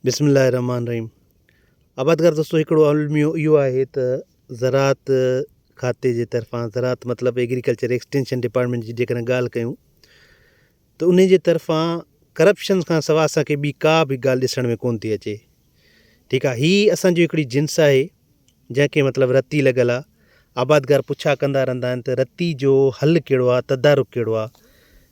بسم الله الرحمٰن الرحيم آبادگار دوستو هڪڙو الميو اهو آهي ته زراعت کاتي جي طرفان زراعت مطلب ايگريڪلچر ايڪسٽينشن ڊپارٽمينٽ جي جيڪڏهن ڳالهه ڪيون ته ان جي طرفان ڪرپشن کان سواء اسانکي ٻي ڪا به ڳالهه ڏسڻ ۾ ڪون ٿي اچي ٺيڪ آهي هي اسانجو هڪڙي جنس آهي جنهن کي مطلب رتي لڳل آهي آبادگار پڇا ڪندا رهندا آهن ته رتي جو حل ڪهڙو آهي تدارڪ ڪهڙو آهي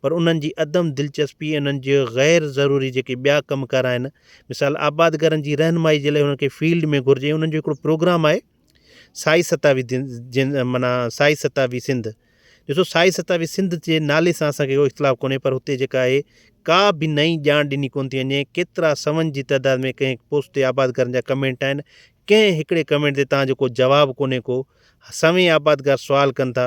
پر انهن جي عدم دلچسپي ۽ انهن جي غير ضروري جيڪي ٻيا ڪم ڪار آهن مثال آبادگارن جي رهنمائي جي لاء انهن کي فيلڊ ۾ گهرجي انهن جو هڪڙو پروگرام آهي سائي ستاوي دن جن معنيٰ سائي ستاوي سنڌ ڏسو سائي ستاوي سنڌ جي نالي سان اسان کي ڪو اختلاف ڪونهي پر هتي جيڪا آهي ڪا به نئين ڄاڻ ڏني ڪون ٿي وڃي ڪيترا سون جي تعداد ۾ ڪنهن پوسٽ تي آبادگارن جا ڪمينٽ آهن ڪنهن هڪڙي ڪمينٽ تي تان جو ڪو جواب ڪونهي ڪو سوين آبادگار سوال ڪن ٿا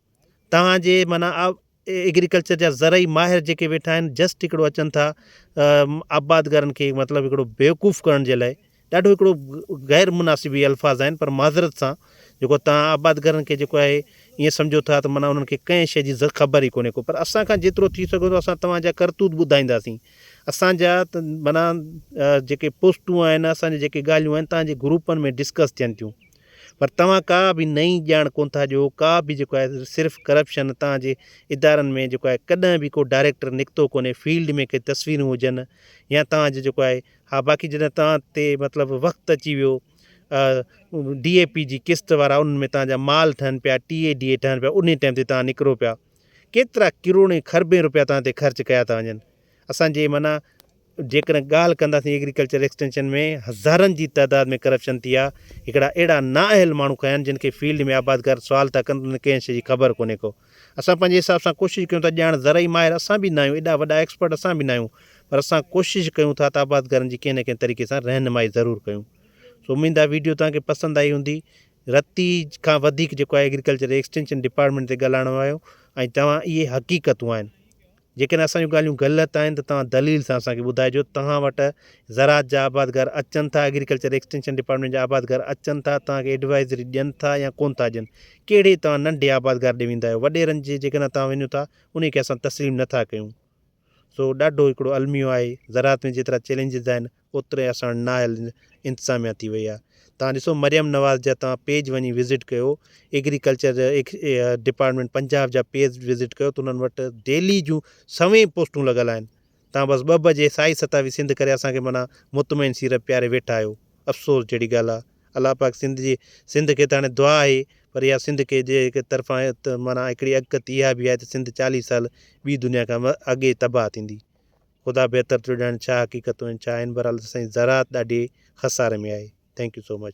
توهان جي معنيٰ ايگريڪلچر جا زرعي ماهر جيڪي ويٺا آهن جسٽ هڪڙو اچن ٿا آبادگارن کي مطلب هڪڙو بيوقوف ڪرڻ جي لاء ڏاڍو هڪڙو غير مناسب هي الفاظ آهن پر معذرت سان جيڪو توهان آبادگارن کي جيڪو آهي ائين سمجهو ٿا ته معنيٰ انهن کي ڪنهن شي جي خبر ئي ڪونهي ڪو پر اسان کان جيترو ٿي سگهيو ٿو اسان توهان جا ڪرتوت ٻڌائينداسين اسان جا معنيٰ جيڪي پوسٽون آهن اسان جي جيڪي ڳالهيون آهن توهان جي گروپن ۾ ڊسڪس ٿين ٿيون پر توهان ڪا به نئين ڄاڻ ڪون ٿا ڏيو ڪا به جيڪو آهي صرف ڪرپشن توهان جي ادارن ۾ جيڪو آهي ڪڏهن به ڪو ڊائريڪٽر نڪتو ڪونهي فيلڊ ۾ ڪي تصويرون هجن يا توهان جو جيڪو آهي ها باقي جڏهن توهان تي مطلب وقت اچي ويو ڊي اي پي جي قسط وارا انهن ۾ توهان جا مال ٺهن پيا ٽي اي ڊي اي ٺهن پيا انهي ٽائيم تي توهان نڪرو پيا ڪيترا ڪروڙين خربين روپيا توهان تي خرچ ڪيا ٿا وڃن اسان جي معنيٰ جيڪڏهن ڳالهه ڪنداسين ايگريڪلچر ايڪسٽينشن ۾ هزارن جي تعداد ۾ ڪرپشن ٿي آ هڪڙا اهڙا نااهل ماڻهو کنيا آهن جن کي فيلڊ ۾ آبادگار سوال ٿا ڪن ته انهن کي ڪنهن شي جي خبر ڪونهي ڪو اسان پنهنجي حساب سان ڪوشش ڪيون ٿا ڄاڻ زرعي ماهر اسان به ناهيون ايڏا وڏا ايڪسپرٽ اسان به ناهيون پر اسان ڪوشش ڪيون ٿا ته آبادگارن جي ڪنهن نه ڪنهن طريقي سان رهنمائي ضرور ڪيون سو اميد آ ويڊيو توهان کي پسند آئي هوندي رتي کان وڌيڪ جيڪو آهي ايگريڪلچر ايڪسٽينشن ڊپارٽمنٽ تي ڳالهائڻ آيو ۽ توهان اهي حقيقتون آهن جيڪڏهن اسان جون ڳالهيون غلط آهن ته توهان دليل سان اسان کي ٻڌائجو توهان وٽ زراعت جا آبادگار اچن ٿا ايگريڪلچر ايڪسٽينشن ڊپارٽمينٽ جا آبادگار اچن ٿا توهان کي ايڊوائزري ڏين ٿا يا ڪون ٿا ڏين ڪهڙي توهان ننڍي آبادگار ڏي ويندا آهيو وڏيرن جي جيڪڏهن توهان وڃو ٿا انهي کي اسان تسليم نٿا ڪيون سو ڏاڍو هڪڙو الميو آهي زراعت ۾ جيترا چئلينجز آهن اوتري اسان نااهل انتظاميا ٿي وئي آهي توهان ڏسو مريم نواز جا توهان پيج وڃي وزٽ ڪيو ايگريڪلچر ڊپارٽمينٽ پنجاب جا پيج وزٽ ڪيو ته انهن وٽ ڊيلي جون سوين پوسٽون لڳل آهن توهان بس ٻه بجي سائي ستاوي سنڌ ڪري اسان کي معنيٰ مطمئن سيرت پياري ويٺا آهيو افسوس جهڙي ڳالهه آهي الله پاڪ سنڌ جي سنڌ کي ته هاڻي دعا آهي پر اها سنڌ کي جي هڪ طرفان معنيٰ هڪڙي اڳڪٿي اها به آهي ته سنڌ چاليهه سال ٻي دنيا کان اڳي تباهه ٿيندي خدا بهتر ٿيو ڄاڻي ڇا حقيقتون آهن ڇا آهن بهرحال سائين زراعت ڏاڍي خساري ۾ آهي ٿينڪ يو سو مچ.